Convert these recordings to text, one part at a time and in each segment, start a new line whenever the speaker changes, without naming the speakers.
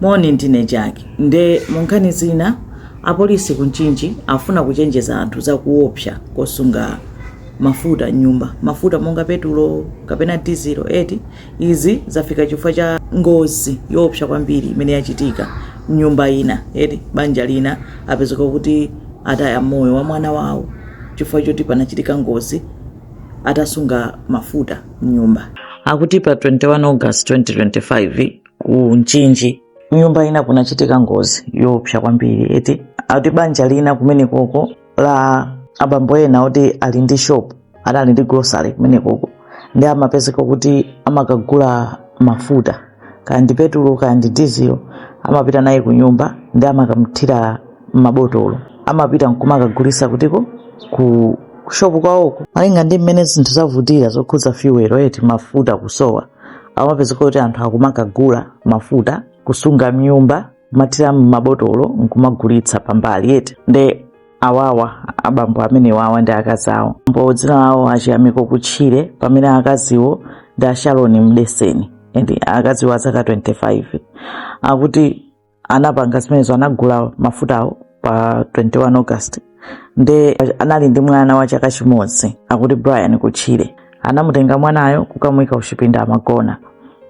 Moni ndine Jack nde munkhani zina apolisi ku Mchinji afuna kuchenjeza anthu za kuopsa kosunga mafuta m'nyumba. Mafuta monga petulo kapena dizilo eti? Izi zafika chifukwa cha ngozi yoopsa kwambiri imene yachitika m'nyumba ina eti. Banja lina apezeka kuti ataya moyo wa mwana wawo chifukwa choti panachitika ngozi atasunga mafuta m'nyumba. Akuti pa 21 August 2025, ku Mchinji m'nyumba ina kunachitika ngozi yoopsa kwambiri eti ati banja lina kumenekoko la abambo ena oti ali ndi shop adali ndi grocery kumenekoko nde amapezeka kuti amakagula mafuta kaya ndi petulo kaya ndi dizilo amapita nawo ku nyumba nde amakathira m'mabotolo amapita nkumakagulisa kutiko ku shopu kwawoko malinga ndi mmene zinthu zavutira zokhudza fuel eti mafuta kusowa akumapezeka kuti anthu akumakagula mafuta kusunga mnyumba kumathira mmabotolo nkumagulitsa pambali eti nde awawa abambo amenewawa ndi akazi awo mbo dzina lawo a Chiyamiko kutchire pamene akaziwo ndi a Sharon mdeseni and akaziwo azaka 25 akuti anapanga zimenezo anagula mafutawo pa 21 august nde anali ndi mwana wa chaka chimodzi akuti brian kutchire anamutenga mwanayo kukamuyika kuchipinda amagona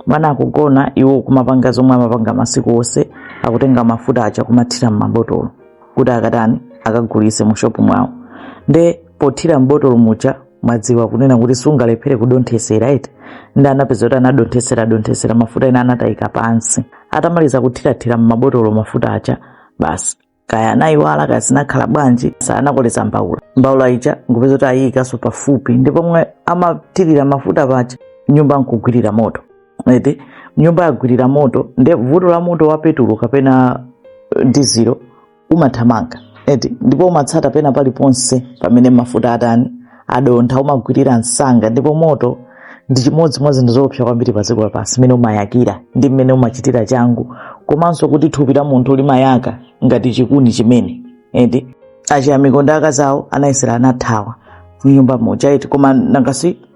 mwana akugona iwo kumapanga zomwe amapanga masiku onse akutenga mafuta aja kumathira m'mabotolo kuti akatani akagulise mu shopu mwawo nde pothira m'botolo muja mwadziwa kunena kuti sungalephere kudonthesera eti nde anapeza kuti anadonthesera donthesera mafuta ena anatayika pansi atamaliza kuthirathira m'mabotolo mafuta aja basi kaya anayiwala kaya zinakhala bwanji anakoleza mbaula mbaula ija nkupeza kuti ayiyikanso pafupi ndi pomwe amathirira mafuta paja nyumba nkugwirira moto eti nyumba yagwirira moto nde vuto la moto wa petulo kapena eh, dizilo umathamanga eti ndipo umatsata pena paliponse pamene mafuta atani adontha umagwirira msanga ndipo moto ndi chimodzi mwa zinthu zoopsa kwambiri pa dziko lapansi mmene umayakira ndi mmene umachitira changu komanso kuti thupi la munthu limayaka ngati chikuni chimene eti a Chiyamiko ndi akazawo anayesera anathawa m'nyumba muja eti koma nangasi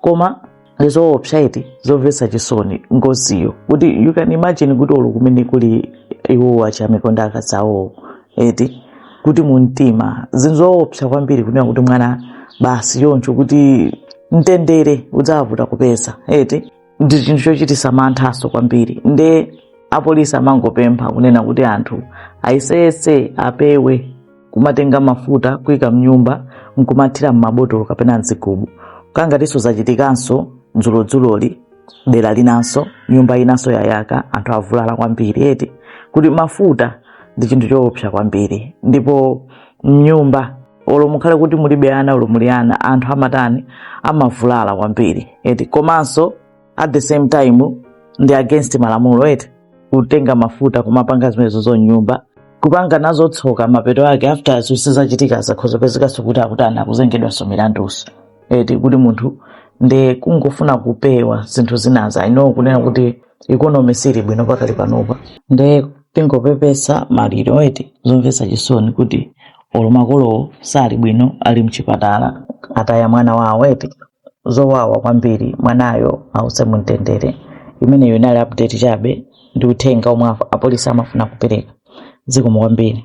koma ndizoopsa eti zomvetsa chisoni ngoziyo kuti you can imagine kuti olo kumene kuli iwowo a Chiyamiko ndi akazi awowo eti kuti mumtima zinthu zoopsa kwambiri kunena kuti mwana basi choncho kuti mtendere udzavuta kupeza eti ndi chinthu chochitisa manthaso kwambiri nde apolisi amangopempha kunena kuti anthu ayeseyese apewe kumatenga mafuta kuika mnyumba nkumathira mmabotolo kapena mzigubu kangatinso zachitikanso dzulodzuloli dera linanso nyumba inanso yayaka anthu avulala kwambiri eti kuti mafuta ndi chinthu choopsa kwambiri ndipo mnyumba olo mukhale kuti mulibe ana olo muli ana anthu amatani amavulala kwambiri eti komanso at the same time ndi against malamulo eti kutenga mafuta kumapanga zimenezo zonyumba kupanga nazo tsoka mapeto ake after zonse zachitika zakhoza pezekanso kuti akutani akuzengedwanso milanduso eti kuti munthu nde kungofuna kupewa zinthu zinazo i know kunena kuti ikonomi sili bwino pakali panopa nde tingopepesa maliro eti zomvetsa chisoni kuti olo makolowo sali bwino ali mchipatala ataya mwana wawo eti zowawa kwambiri mwanayo ause mumtendere imeneyo inali update chabe ndi uthenga omwe af- apolisi amafuna kupereka zikomo kwambiri